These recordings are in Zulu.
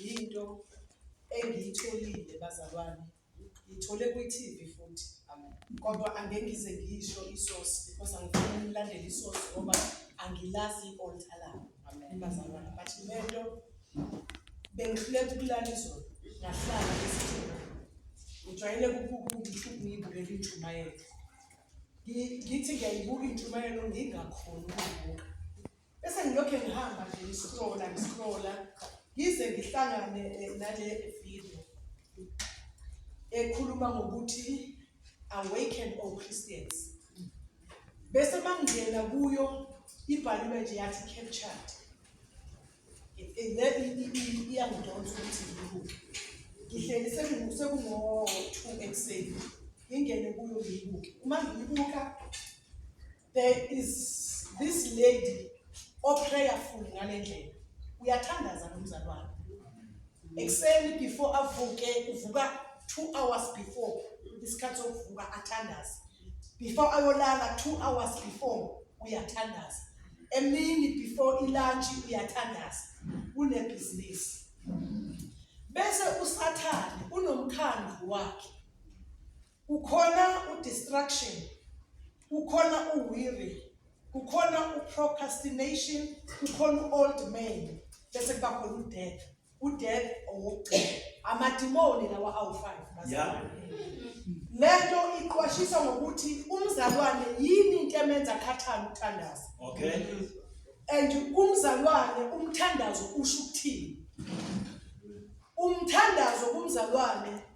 yinto engiyitholile bazalwane ngithole kwi-TV futhi kodwa angeke ngize ngiyisho isosi because angifuni ngilandele isosi ngoba angilazi i-alta labo bazalwane but lento bengihluleka ukulala izolo ngahlala esithini ngijwayele ukubuka ukuthi ngiyibukela intshumayelo ngithi ngiyayibuka intshumayelo ngingakhoni ukuyibuka Bese ngilokhu ngihamba nje ngiscrolla ngiscrolla ngize ngihlangane eh, nale video ekhuluma ngokuthi awaken all Christians. Bese mangena kuyo ibhaliwe nje yathi captured. Iyangidonsa ukuthi ngibuke. Ngihleli sekungo-two ekuseni ngingene kuyo ngiyibuke. Uma ngiyibuka there is this lady oprayerful ngale ndlela uyathandaza nomzali wakhe ekuseni before avuke uvuka two hours before isikhathi sokuvuka athandaze before ayolala two hours before uyathandaza emini before ilunch uyathandaza unebhizinisi bese usathane unomkhandlu wakhe Kukhona u distraction, kukhona u weary, kukhona u procrastination, kukhona u old man, bese kuba khona u death. U death owokugcina. Amadimoni lawa awu 5 bazalwane. Lento iqwashisa ngokuthi umzalwane yini into emenza khathana uthandaza. Okay. And umzalwane umthandazo usho ukuthini? Umthandazo kumzalwane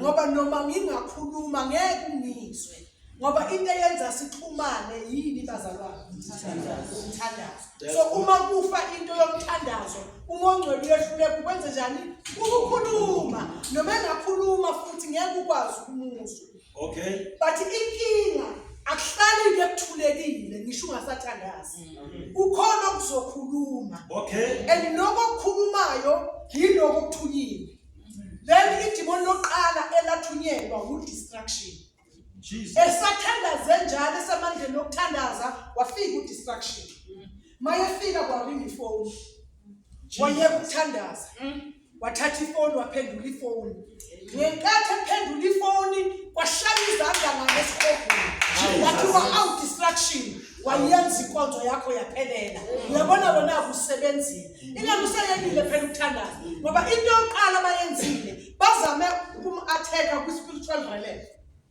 ngoba noma ngingakhuluma ngeke ungizwe ngoba into eyenza sixhumane yini bazalwane umthandazo so uma kufa into yomthandazo uma ongcwele uyehluleka ukwenze njani ukukhuluma noma engakhuluma futhi ngeke ukwazi ukumuzwa okay but inkinga akuhlali into ekuthulekile ngisho ungasathandazi mm. ukhona okuzokhuluma okay and lokho okukhulumayo yilokho okuthunyile Leli idimoni lokuqala elathunyelwa wudistraction. Jesus. Esathandaze njalo esamandleni okuthandaza wafika udistraction. Mayefika kwaringa ifoni. Wayeka ukuthandaza. Wathatha ifoni waphendula ifoni. Ngenkathi ephendula ifoni kwashaya izandla ngale sikhogweni. Wathi wa out distraction. wayenza inkonzo yakho yaphelela uyabona wena akusebenzile ingani useyekile phela ukuthandaza ngoba into yokuqala abayenzile bazame ukum-atheka kwi-spiritual realm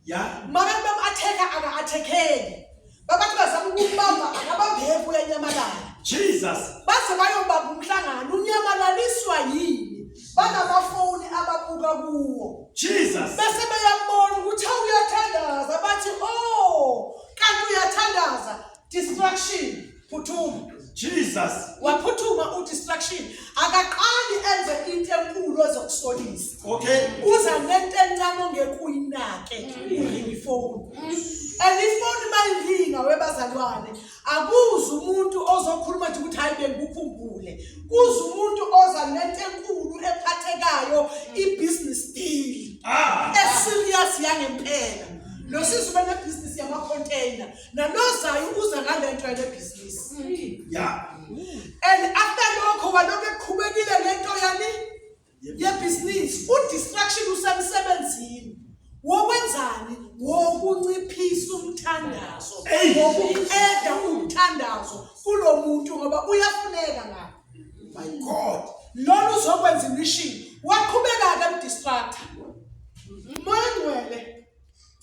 ya mara bam-atheka aka-athekeli babathi bazama ukumbamba akabambeki uyanyamalala jesus baze bayobamba umhlangano unyamalaliswa yini banamafoni ababuka kuwo jesus bese beyambona ukuthi awuyathandaza bathi o oh, kanti uyathandaza distraction phuthuma jesus waphuthuma udistraction akaqali enze into enkulu ezokusolisa okay uza nento encane ongekuyinake uringa ifoni and ifoni mayiringa webazalwane akuzi umuntu ozokhuluma nje ukuthi hayi bengikukhumbule kuze umuntu oza nento enkulu ephathekayo i-business deal ah. eserious yangempela lo sisi ubenebhizinisi yamacontaina nalozayo uza ngale nto yale bhizinisi mm. ya and after lokho walokhu eqhubekile ngento yani yebhizinisi udistraction usemsebenzini wokwenzani wokunciphisa umthandazo wokuqeda umthandazo kulo muntu ngoba uyafuneka ngapha my god lolu uzokwenza imishini waqhubeka ke mdistractor moya ngcwele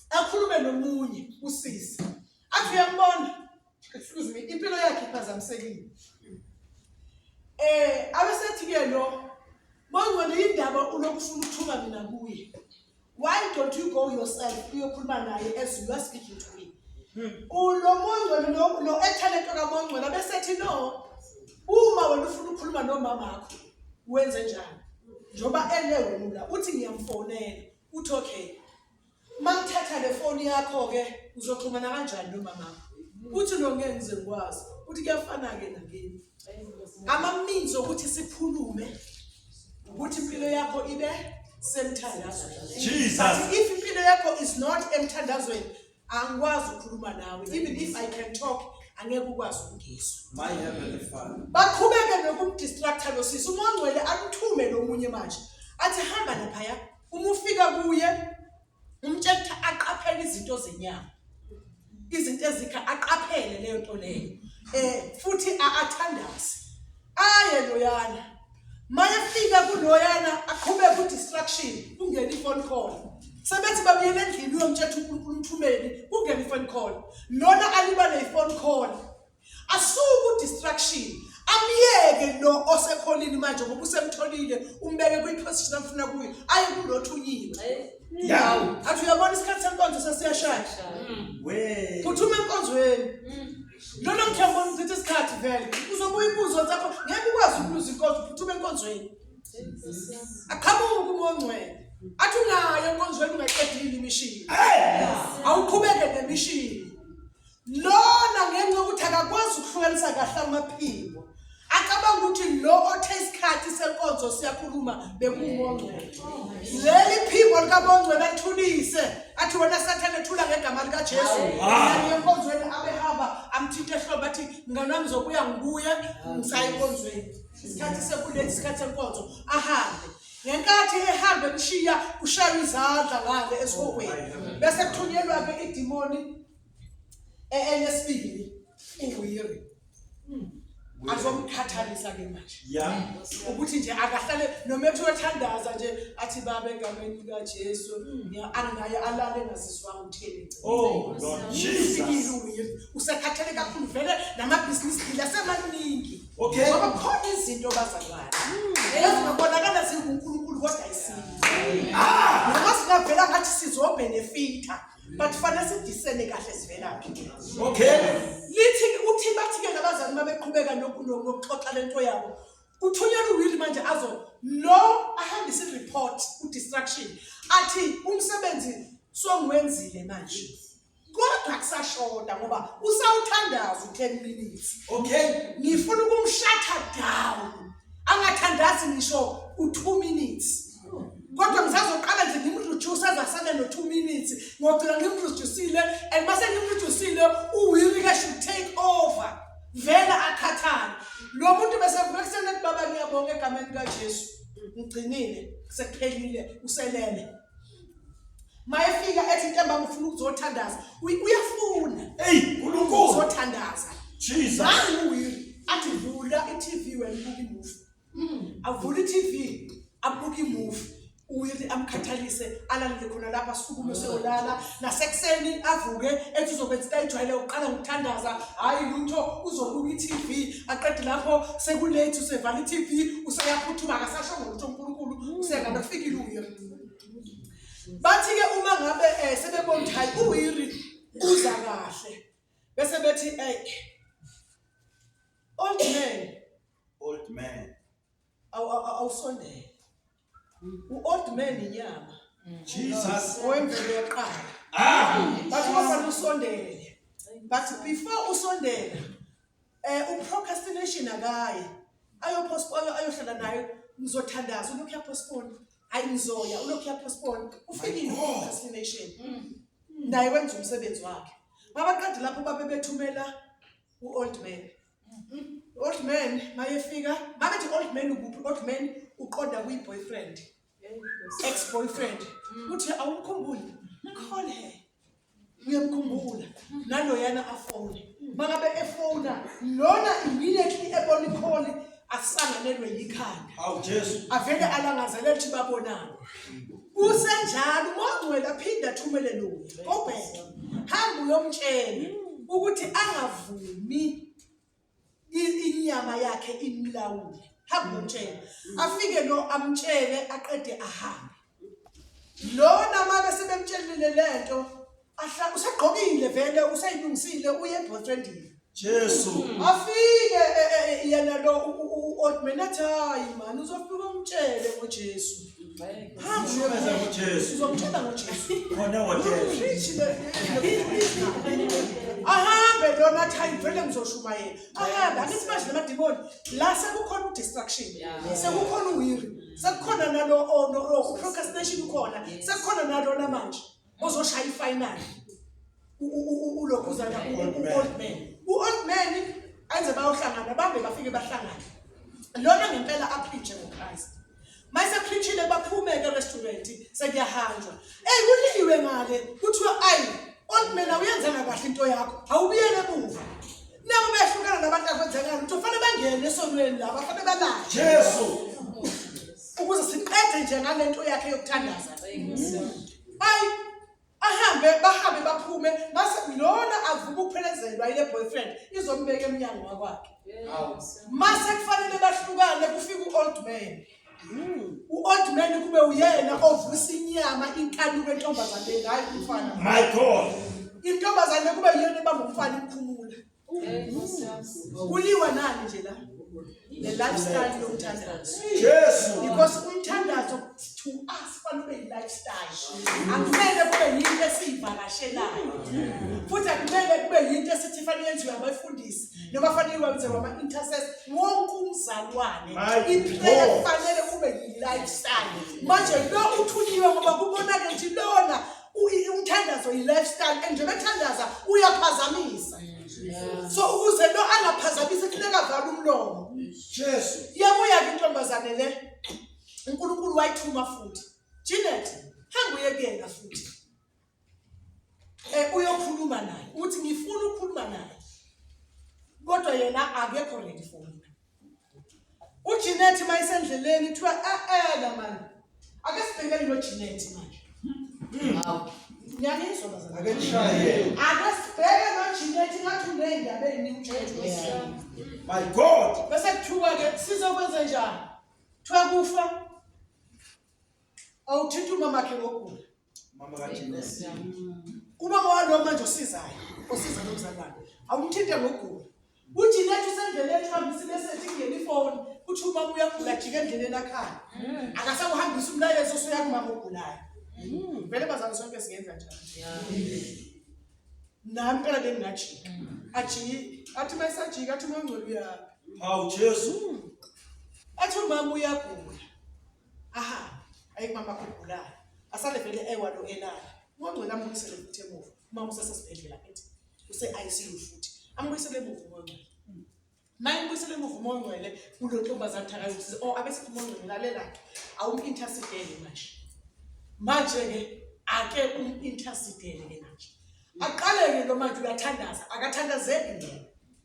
akhulume nomunye usisi athi uyambona excuse me impilo yakhe iphazamisekile eh abesethi ke lo mangcwele indaba ulokufuna ukuthuka mina kuye why don't you go yourself uyokhuluma naye as you are speaking to me ulo mongcwele lo- lo ethalento kamongcwele abesethi no uma wena ufuna ukukhuluma nomamakho wenze njani njengoba ele wena uthi ngiyamfonela uthi okay uma ngithatha le foni yakho-ke uzoxhumana kanjani nomamakho uthi no ngeke ngize ngikwazi uthi kuyafana-ke nakini ama-means okuthi sikhulume ukuthi impilo yakho ibe semthandazweni Jesus. But if impilo yakho is not emthandazweni angikwazi ukukhuluma nawe even if i can talk angeke ukwazi ukungizwa My heavenly Father. baqhubeke nokumdistracta lo sisi uma ongcwele amthume lo munye manje athi hamba laphaya uma ufika kuye umtshela ukuthi aqaphele izinto zenyama izinto ezikha aqaphele leyo nto leyo eh futhi athandaze aye loyana mayefika kuloyana aqhube ku distraction kungena ifone call sebethi babuyele endlini uyomtshela uNkulunkulu umthumeli kungena ifone call lona alibale ifone call Asuku distraction. Amyeke lo osekholini manje ngoba usemtholile umbeke kwi position afuna kuyo. Ayi kulothunyiwe. Yawu. Athi uyabona isikhathi senkonzo sesiyashaya. We. Phuthuma enkonzweni. Lona mthembo omthethe isikhathi vele. Uzobuya ibuzo zakho ngeke ukwazi ukuluza inkonzo phuthuma enkonzweni. Aqhamuke umongcwele. Athi ungayo enkonzweni ungaqedile imishini. Hey! Awuqhubeke nemishini. lona ngenxa yokuthi akakwazi ukuhlukanisa kahle amaphimbo acabanga ukuthi lo othe isikhathi senkonzo siyakhuluma bekungongcwele leli phimbo likabongcwele athulise athi wena sathane thula ngegama likajesu enkonzweni abehamba amthinta ehlobo athi mngane wami zokuya ngibuye ngisaye enkonzweni isikhathi sekuleli isikhathi senkonzo ahambe ngenkathi ehambe kushiya kushaywa izandla ngale esihogweni bese kuthunyelwa-ke idimoni E- Elesibili uWiri azomkhathalisa ke manje. Yeah. Ukuthi nje akahlale noma ethi uyothandaza nje athi baba egameni likaJesu ngiya- anginaye alale engazizwanga uthini. Oh, Lord Ufikile Jesus. uWiri usekhathele kakhulu vele namabhizinisi deal asemaningi. Okay. Ngoba khona izinto bazalwane. Ezingabonakala zinguNkulunkulu kodwa ayisizo. Noma singavela ngathi sizobenefita. but fanele sidisele kahle sivelaphi okay lithi uthi bathi ke nabazali babeqhubeka nokuxoxa lento yabo kuthunyelwa uwili manje azo lo ahambise ireport udistraction athi umsebenzi songiwenzile manje kodwa kusashoda ngoba usawuthandaza u-10 minutes okay ngifuna ukumshatha down angathandazi ngisho u-2 minutes kodwa ngisazoqala nje ngimreduce aze asale no-two minutes ngogcina ngimreducile and uma sengimreducile uwiri ke should take over vele akhathale lo muntu besevuka ekuseni ethi baba ngiyabonga egameni kajesu ngigcinile sekuphelile uselele mayefika ethi into embanga ufuna ukuzothandaza uyafuna eyi nkulunkulu uzothandaza jesus nangu uwiri athi vula i-tv wena ubuka imufi avule i-tv abuke imuvi uwili amkhathalise alalele khona lapha asukume seyolala nasekuseni avuke ethi uzokwenza ayijwayele uqala ngokuthandaza hhayi lutho uzobuka i-tv aqede lapho sekulethi usevala i-tv useyaphuthuma akasasho ngolutho unkulunkulu usengane kufikile uye bathi-ke uma ngabe um eh, sebebona ukuthi hhayi uwiri uza kahle bese bethi ey old man Old man. Awu awu- awu- awusondele. U-old man inyama. Jesus. Wemvelo yaqala. Ah! Bathi bafana usondele. But before usondela eh uprocrastination akaye. Ayopostpone ayohlala nayo ngizothandaza ulokhu yapostpone. Ayi ngizoya ulokhu yapostpone. Ufikile procrastination. Naye wenza umsebenzi wakhe. Babaqede lapho babe bethumela u-old man. Old man mayefika babethi old man ukuphi old man uqonda kwi boyfriend ex boyfriend uthi awumkhumbuli call her uyamkhumbula naloyana afone mangabe efona lona immediately ebona ikholi asanganelwe yikhanda awu jesu avele alangazelele ukuthi babonani kusenjalo umongcwele aphinde athumele lo obheke hamba uyomtshela ukuthi angavumi inyama yakhe imlawule hamba uyomtshela afike lo amtshele aqede ahambe lona uma besebemtshelile lento Ahla usegqokile vele useyilungisile uye boyfriendile. Jesu. Hmm. Afike eh, eh, eh, yena lo old man athi hayi mani uzofika umtshele ngoJesu. Shukeza ngoJesu. Uzomtshela ngoJesu. Khona waJesu. Ahambe lona athi hayi vele ngizoshumayela. Ahambe angithi manje lamadimoni la sekukhona udistraction. Sekukhona uwiri. Sekukhona nalo ono oh, procrastination ukhona. Sekukhona nalo namanje. mozoshaya ifinal ulokhuzana u-old man u-old man enze bayohlangana bambe bafike bahlangane lona ngempela aphitshe ngochrist mayisephitshile baphumeke erestaurant sekuyahanjwa eyi kuliwe ngale kuthiwa ayi old man awuyenzanga kahle into yakho awubuyele emuva Nabo behlukana nabantu akwenzakala ukuthi kufanele bangene esonweni laba kufanele balale. Jesu. Ukuze siqede nje ngalento yakhe yokuthandaza. Ayi ahambe bahambe baphume base lona avuka ukuphelezelwa ile boyfriend izombeka emnyango wakwakhe. Mase kufanele bahlukane kufika uold man. u-old man kube uyena ovusa inyama inkanuko entombazaneni hhayi umfana my god intombazane kube yiyona ebamba umfana iphumula kuliwa nani nje la ne-lifestyle yomthandazo jesu because umthandazo to us fanele ube yi-lifestyle akumele kube yinto esiyivakashelayo futhi akumele kube yinto esithi fanele yenziwe abafundisi noma fanele iwabithe wama-intercess wonke umzalwane impela kufanele kube yi-lifestyle manje lo uthunyiwe ngoba kubonake ukuthi lona umthandazo yi-lifestyle and njengoba ethandaza uyaphazamisa so ukuze lo angaphazamisi kufuneka vale umlomo jesu yabuya-ke intombazane le unkulunkulu wayithuma futhi jinet hamba uyekuyena futhi Eh uyokhuluma naye. Uthi ngifuna ukukhuluma naye. Kodwa yena akekho ready for mina. UJinet mayisendleleni kuthiwa eh eh la manje. Ake sibhekele lo Jinet manje. Hmm. Hawu. Ngiyanizwa bazalwane. Ake nishaye. Ake sibheke lo Jinet ngathi uneyindaba eziningi uJinet. My God. Bese kuthiwa ke sizokwenza njani? Kuthiwa kufa awuthinta umama wakhe ngokugula. Mama ka Jeanette. Kuba kwalo manje osizayo, osiza nomzalwane. Awumthinte ngogula. UJeanette usendleleni uhambisa imeseji kungena ifoni, uthi uma uya kujika endleleni akhaya. Akasakuhambisa umlayezo osuya kumama ogulayo. Vele bazali sonke singenza njani? Nami phela bengingajika. Ajiki, athi mayisajika athi mangcwele uyaphi. Hawu Jesu. Athi umama uyagula. ahambe aye kumama wakho ogulayo asale vele ewa lo elala ungongcwele amubuyisele futhi emuva uma usesesibhedlela futhi use-icu futhi amubuyisele emuva umongcwele maye mbuyisele emuva umongcwele kulo ntombazane thakazisize o abesikho umongcwele lalelakhe awum-intersidele manje manje-ke ake um-intersidele-ke manje aqaleke lo manje uyathandaza akathandazeki ngena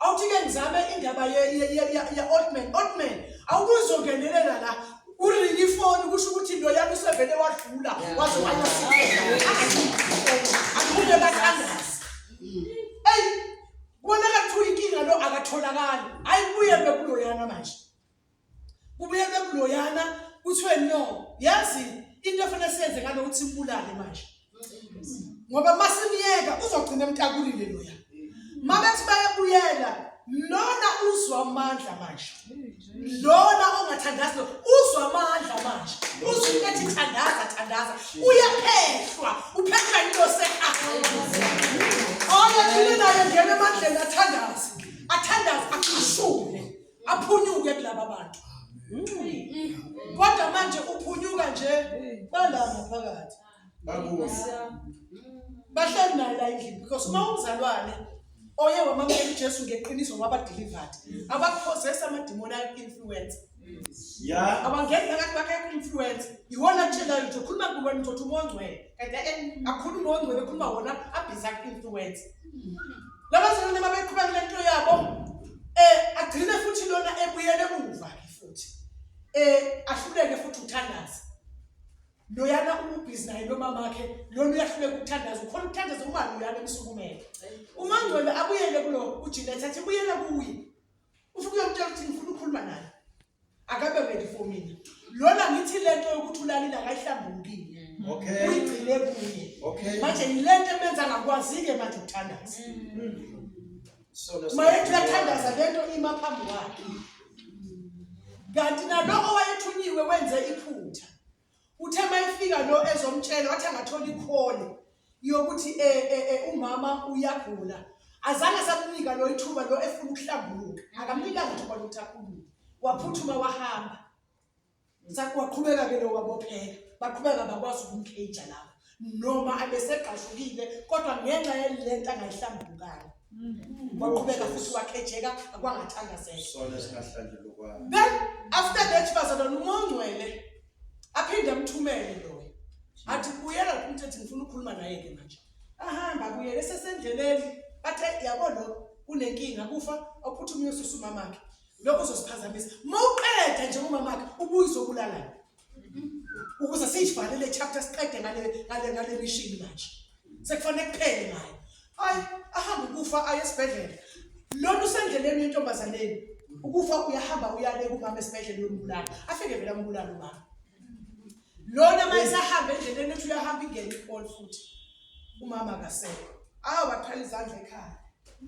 Awuthi-ke ngizame indaba ye-old man. Old man, awukuzongenelela la uringa ifoni kusho ukuthi into yami usevele wadlula waze wayasiakuye bathandazi eyi kubonakala kuthiwa inkinga lo akatholakali hhayi kuye bekuloyana manje Kubuyelwe kuloyana kuthiwe no, yazi into efanele siyenze ngalo ukuthi mbulale manje. Ngoba masimyeka uzogcina emtakulile loya. Mabethi bayabuyela lona uzwa amandla manje. Lona ongathandazi lo uzwa amandla manje. Uzwa into ethi thandaza thandaza. Uyaphehlwa, uphehlwa into sekhaya. Oya thina naye ngeke emandleni athandaze. Athandaze akhishule. aphunyuke kulaba bantu kodwa manje uphunyuka nje bala ngaphakathi bahleli naye la endlini because uma umzalwane oye wamamukela ujesu ngeqiniso wabadelivered abaphosesa amadimoni ayi-influence Yeah. Abangeni phakathi kwakhe influence. Iwona atshelayo nje ukhuluma kuwe wena uzothi umongcwele. Kanti akhuluma ongcwele ukhuluma wona abhiza influence. Labazalwane mabeqhubeka nento yabo eh agcine futhi lona ebuyele emuva ke futhi eh ahluleke futhi uthandaza loyana ubhizi naye nomama wakhe lona uyahluleka ukuthandaza ukhona ukuthandaza uma loyana emsukumele umangcwele abuyele kulo ujinet athi buyela kuye ufike uyomtshela ukuthi ngifuna ukukhuluma naye akabe ready for mina lona ngithi lento yokuthi ulalile akayihlambukile mm. okay uyigcine kuye okay manje yilento emenza ngakwazike manje ukuthandaza mm. so mayethi uyathandaza lento ima phambi kwakhe kanti naloko wayethunyiwe wenze iphutha Uthe mayefika lo ezomtshela wathi angathola ikhole yokuthi eh, eh, eh, umama uyagula. Azange asamnika lo ithuba lo efuna ukuhlambuluka. Akamnikanga ithuba lokuthi akhulume. Waphuthuma wahamba. Sakwaqhubeka ke lo wabopheka. Baqhubeka bakwazi ukumcage lapho. noma abesegqashukile kodwa ngenxa yale nto angayihlambukanga mm. waqhubeka futhi wakhejeka akwangathandazela then after that bazalwa nomongcwele aphinde amthumele loyo athi buyela kuthi ethi ngifuna ukukhuluma naye-ke manje ahamba buyele sesendleleni bathe yabo lo kunenkinga kufa ophuthume uyosusa umamakhe lokho uzosiphazamisa uma uqeda nje umamakhe ubuye uzobulalani ukuze siyivale le chapter siqede ngale ngale ngale mission manje sekufanele kuphele ngayo hayi ahamba ukufa aye esibhedlela lona usendleleni yentombazaneni ukufa uyahamba uyale kumama esibhedlela yombulala afike vele ambulala umama lona uma esahamba endleleni ethi uyahamba ingene ibol futhi umama akasekho awu wathwala izandla ekhaya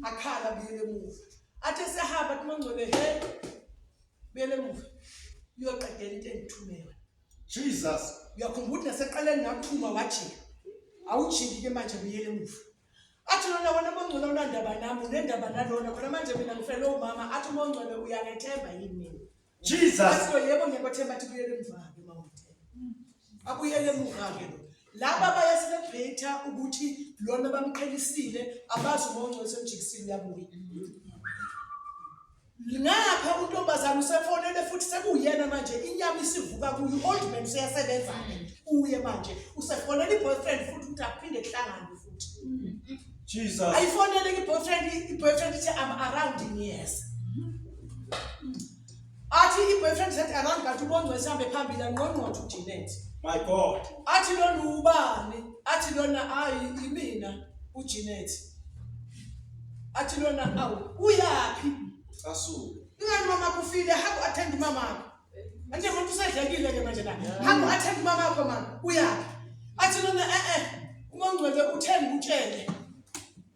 akhala buyele emuva athi esehamba athi mangcwele he Buyela emuva. Uyoqedela into engithume yona. Jesus. Uyakhumbula ukuthi naseqaleni ngakuthuma wajika. Awujiki ke manje buyela emuva. Athi lona wena mongcwele unandaba nami, unendaba nalona. Khona manje mina ngifele umama athi umongcwele uyangethemba yini mina? Jesus. Athi yebo ngiyakwethemba athi buyela emuva ke mama. Abuyele emuva ke lo. Laba bayaselebrate ukuthi lona bamqhelisile abazi umongcwele semjikisini yabuya. ngapha untombazane usefonele futhi sekuyena manje inyama isivuka kuyo old man useyasebenza ke uye manje usefonele iboyfriend futhi ukuthi aphinde kuhlangane futhi Jesus ayifonele iboyfriend iboyfriend ithi I'm around in years athi iboyfriend said around kanti ubongwe sihambe phambili anqonqotho uJanet my god athi lona ubani athi lona ayi imina uJanet athi lona awu uyaphi asuke ingani mama kufile hamba attend mama wakho manje umuntu usedlekile ke manje la hamba attend mama wakho mama uyaphi athi lona eh eh umangcwele uthenge utshele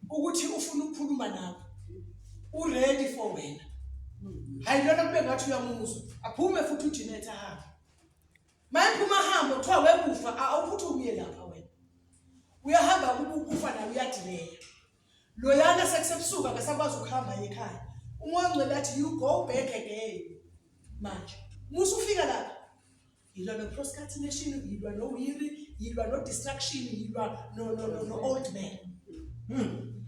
ukuthi ufuna ukukhuluma nawe uready for wena hayi lona kube ngathi uyamuzwa aphume futhi uJinet ahambe Manje uma hamba kuthiwa wekufa awukuthi ubuye lapha wena. Uyahamba ukukufa naye uyadileya. Loyana sekusebusuka ngesakwazi ukuhamba ekhaya. Umoya ongcwele athi you go back again. Manje musa ufika lapha. Yilwa no procrastination, yilwa no weary, yilwa no distraction, yilwa no no no, no old man. Hmm.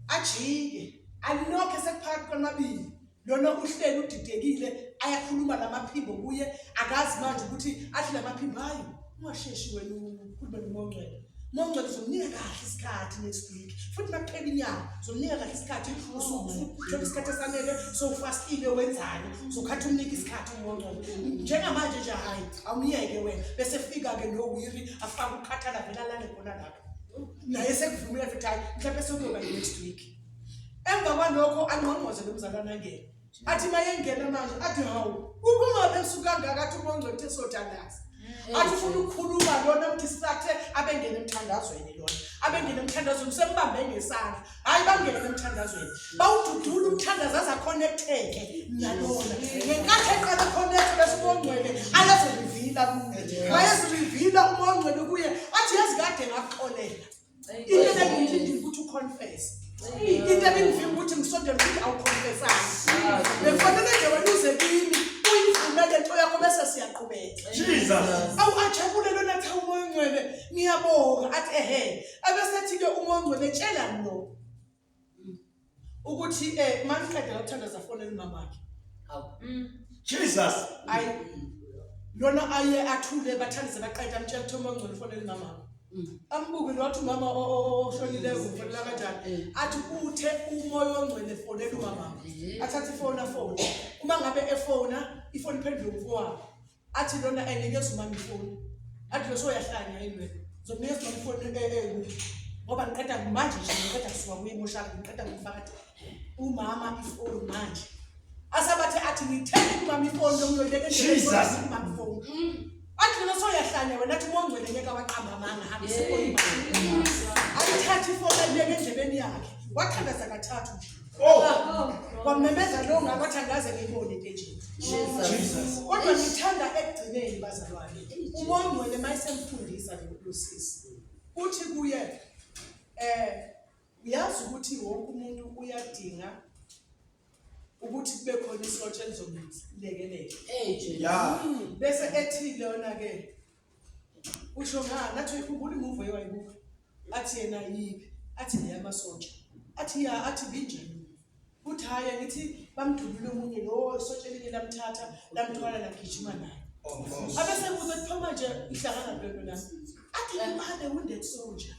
Ajike. Alinokho sekuphakathi kwamabili. lona uhleli udidekile ayakhuluma lamaphimbo kuye akazi manje ukuthi athi lamaphimbo hayi ungasheshi wena ukhulume nomongcwele mongcwele uzomnika kahle isikhathi next week futhi makuphela inyanga uzomnika kahle isikhathi usuthole isikhathi esanele sowufastile wenzani uzokhathi umnika isikhathi umongcwele njengamanje nje hhayi awumyeke wena bese fika-ke nowiri afake ukukhathala vela lale khona lapho naye sekuvumile futhi hhayi mhlawumbe sekuyoba next week emva kwalokho angqongqoze nomzalwana angene athi mayengena manje athi hawu ukungabe sukangaka athi ubongcwethe sodandaza mm. athi ufuna ukukhuluma lona ukuthi sisathe abengene emthandazweni lona abengene emthandazweni usembambe ngesandla hhayi bangene emthandazweni bawududula umthandazo aze akhonektheke nalona ngenkathi eqala akhonekhthe bese ubongcwele ayezirivila kuye wayezirivila ubongcwele kuye athi yazi kade ngakuxolela into ebengiyilindile ukuthi uconfese into ebengivimba ukuthi ngisondele ukuthi awuconfesanga bekufanele nje wena uze kimi uyivumele into yakho bese siyaqhubeka awu ajabule lona kuthiwa umoya ongcwele ngiyabonga athi ehe abesethi-ke umoya ongcwele tshelani lo ukuthi eh maniqeda ukuthandaza fonela umama wakhe hawu mm. Jesus ayi lona aye athule bathandize baqeda amtshela ukuthi uma ngcono fonela umama wakhe mm. ambuke lothi umama oshonileyo ufonela kanjani eh. athi uthe umoya ongcwele fonela umama eh. athathe ifoni afone uma ngabe efona ifoni iphendule umfowabo athi lona enikeza umama ifoni athi lo soyahlanya yini wena zokunikeza umama ifoni eh, eh, eh, ngoba ngiqeda manje nje ngiqeda kusuka kuye emoshaka ngiqeda ngifakade umama ifoni manje asabathe athi ngithenge umama ifoni lokuyoyibeka endleleni umama ifoni mm. athi lona soyahlanya wena athi mongcwele ngeke waqamba amanga hambe sekoni ayithathe ifoni ayibeke endlebeni yakhe wathandaza kathathu nje Oh, kwamemeza lo ngabathandaze ngibone ke nje. Jesus. Kodwa ngithanda ekugcineni bazalwane. Umongcwele mayisemfundisa lokusisi. Uthi kuye eh uyazi ukuthi wonke umuntu uyadinga ukuthi kube khona isotsha elizomlekelela. Hey nje. Yeah. Bese ethi lona ke usho ngani athi uyikhumbula imuvo ewayibuka athi yena yiphi athi neyamasotsha athi ya athi binjani kuthi hhayi angithi bamdubule omunye lo isotsha elinye lamthatha lamthwala lagijima naye abesebuza kuthoma nje ihlangana lento nami athi imane wounded soldier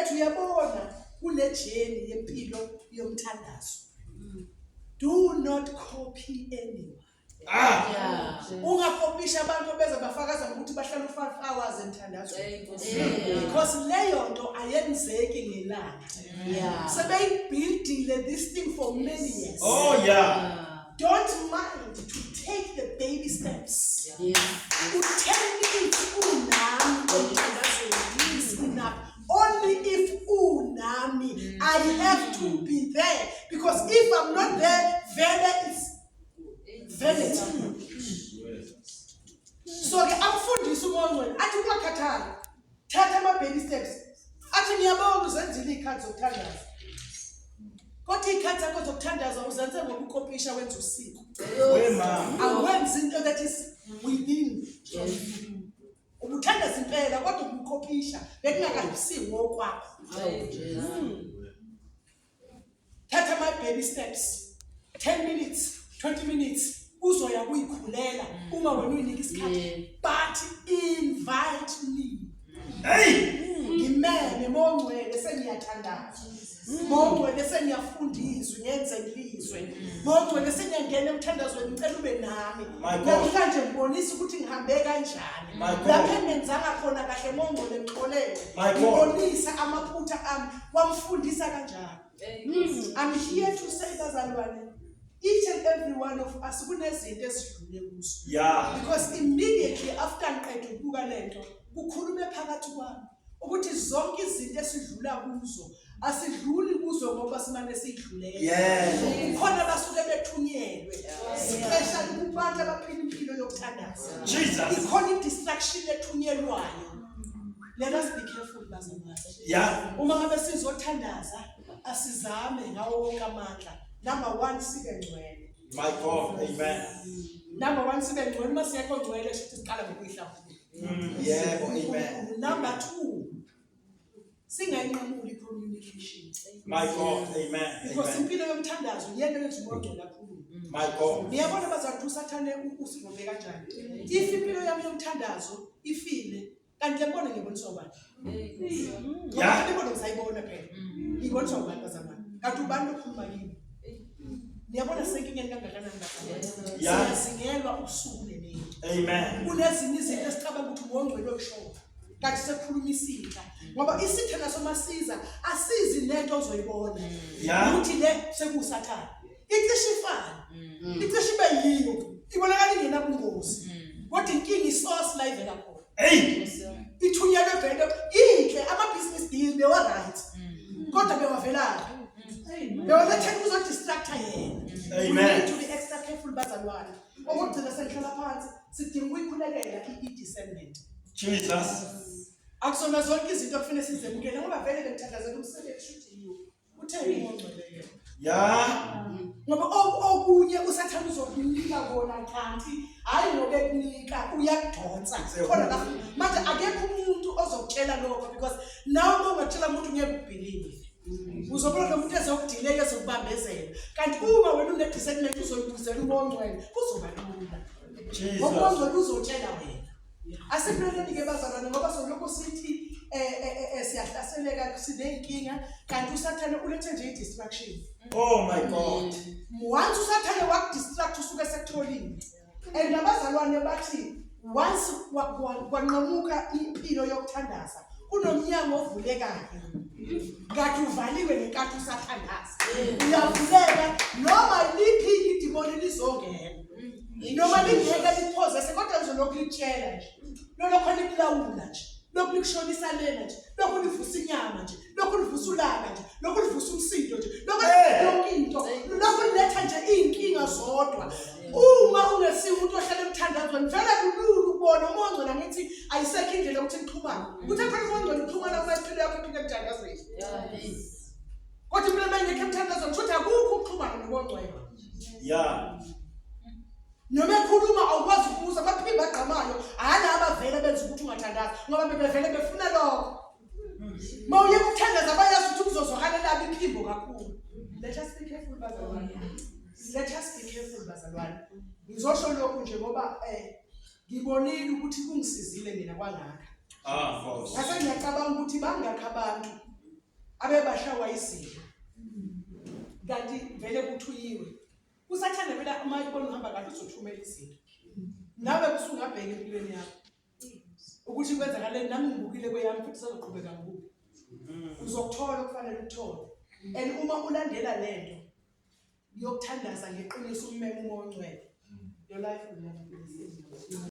ethi uyabona kule jeni yempilo yomthandazo do not copy anyone Ah. ungakopisha abantu obeza bafakaza ngokuthi bahlala u-five hours emthandazo because leyo nto ayenzeki ngelanga sebeyibhildile this thing for many years Oh yeah. Don't mind to take the baby steps. Yes. Utheni if unami emthandazweni is enough. Only if unami I have to be there because if I'm not there, vele is vanity. So ke amfundisi uMoya oNgcwele athi kuyakhathala. thatha ama-baby steps athi ngiyabonga uzenzile iy'khathi zokuthandaza kodwa iy'khathi zakho zokuthandaza uzenze ngokukopisha wenza usiko awenzi into that is within ubuthandaza impela kodwa ubukopisha bekungakahisiwo okwakho thatha my baby steps 10 minutes 20 minutes uzoya kuyikhulela uma wena uyinika isikhathi but invite me hey ngimele mongcwele sengiyathandaza mongcwele sengiyafundiswa ngenze ngilizwe mongcwele sengiyangena emthandazweni ngicela ube nami namhlanje ngibonisa ukuthi ngihambe kanjani lapho engenzanga khona kahle mongcwele ngixolele ngibonise amaphutha ami wamfundisa kanjalo hmm, i'm here to say bazalwane each and every one of us kunezinto esidlule kuzo yeah because immediately after ngiqeda ukubuka lento kukhulume phakathi kwami ukuthi zonke izinto esidlula kuzo asidluli kuzo ngoba simane sidlulele yes khona basuke bethunyelwe siphesha kubantu abaphila impilo yokuthandaza jesus ikhona i distraction ethunyelwayo Let us be careful bazalwane. Yeah. Uma ngabe sizothandaza asizame ngawo wonke amandla. Number 1 sibe ngcwele. My God, amen. Number 1 sibe ngcwele uma siyekho ngcwele shuthi siqala ngokuyihlawula. Mm. Yebo, amen. Number 2 singayinqamuli communication. My God, amen. Because impilo yomthandazo iyena yenza umuntu lapho my god niyabona bazathu usathane usivumbe kanjani if impilo yami yomthandazo ifile kanti le mbono ngiyibonisa ubani ya le mbono ngisayibona phela ngiyibonisa ubani bazalwane kanti ubani lokhuluma kimi niyabona senkingeni kangakanani bazasingelwa ubusuku nemini kunezinye izinto esicabanga ukuthi ngongcwele okushoyo kanti sekukhuluma isinhla ngoba isitha naso masiza asizi nento ozoyibona ukuthi le sekuwusathane icishe ifane Mm. icishe ibe yiyo ibonakala ingenabungozi Mm. kodwa inkinga isource la ivela khona Hey. Yes, sir. ithunyelwe vele inhle ama-business deal bewa-right Mm. kodwa bewavelaphi bewalethela ukuzodistracta yena Amen. We need to be extra careful bazalwane okokugcina sengihlala phansi sidinga ukuyikhulekela i-discernment Jesus. akusona zonke izinto okufanele sizemukele ngoba vele bengithandazela umsebenzi shuthi yiwo Kutheni ungcwele yena? Ya. Ngoba o- okunye usathane uzokunika kona kanti hhayi ngoba ekunika uyakudonsa Siyabona. khona la manje akekho umuntu ozokutshela lokho because nawe uma ungatshela umuntu ngeke ubhilive uzobona lo muntu ezokudileka ezokubambezela kanti uma wena unedisagment uzoyibuzela umongcwele kuzoba lula Jesus. ngokuongcwele uzotshela wena Asipheleni ke bazalwane ngoba soloko sithi eh, eh, eh, eh siyahlaseleka sineyinkinga kanti usathane ulethe nje i-distraction. Oh my God. Once usathane wakudistract usuke sekutholile. And nabazalwane bathi once wa- wa- kwanqamuka impilo yokuthandaza kunomnyango ovulekayo. Kanti uvaliwe ngenkathi usathandaza. Uyavuleka noma liphi idimoni lizongena. noma lingeke liphozese kodwa ngizolokhu litshela nje lolokho likulawula nje lokhu likushonisa lena nje lokhu livusa inyama nje lokhu livusa ulaka nje lokhu livusa umsindo nje lokhu yonke into lokhu liletha nje iy'nkinga zodwa uma ungesiwo umuntu ohlala emthandazweni vele kulula ukubona uma ongcona ngithi ayisekho indlela ukuthi nixhumane ukuthi phela uma ongcona uxhumana uma iphilo yakho iphile emthandazweni kodwa impilo uma ingekho emthandazweni kusho ukuthi akukho ukuxhumana nokongcwela Yeah. noma ekhuluma awukwazi ukubuza baphinde bagqamayo hhayi abavele benza ukuthi ungathandazi ngoba bebevele befuna lokho ma uye kuthandaza bayazi ukuthi kuzozwakala labo iphimbo kakhulu let us be careful bazalwane let us be careful bazalwane ngizosho lokhu nje ngoba um ngibonile ukuthi kungisizile mina kwangaka ah, ngase ngiyacabanga ukuthi bangakho abantu abebashawa izidla kanti vele kuthuyiwe usathane vele uma ibona uhamba kahle uzothumela izinto nawe kusungabheka empilweni yakho ukuthi kwenzakaleni nami ngibukile kweyami futhi sazoqhubeka ngokubi uzokuthola okufanele ukuthole and uma ulandela le nto yokuthandaza ngeqiniso ummeme umoya ongcwele your life will never be the same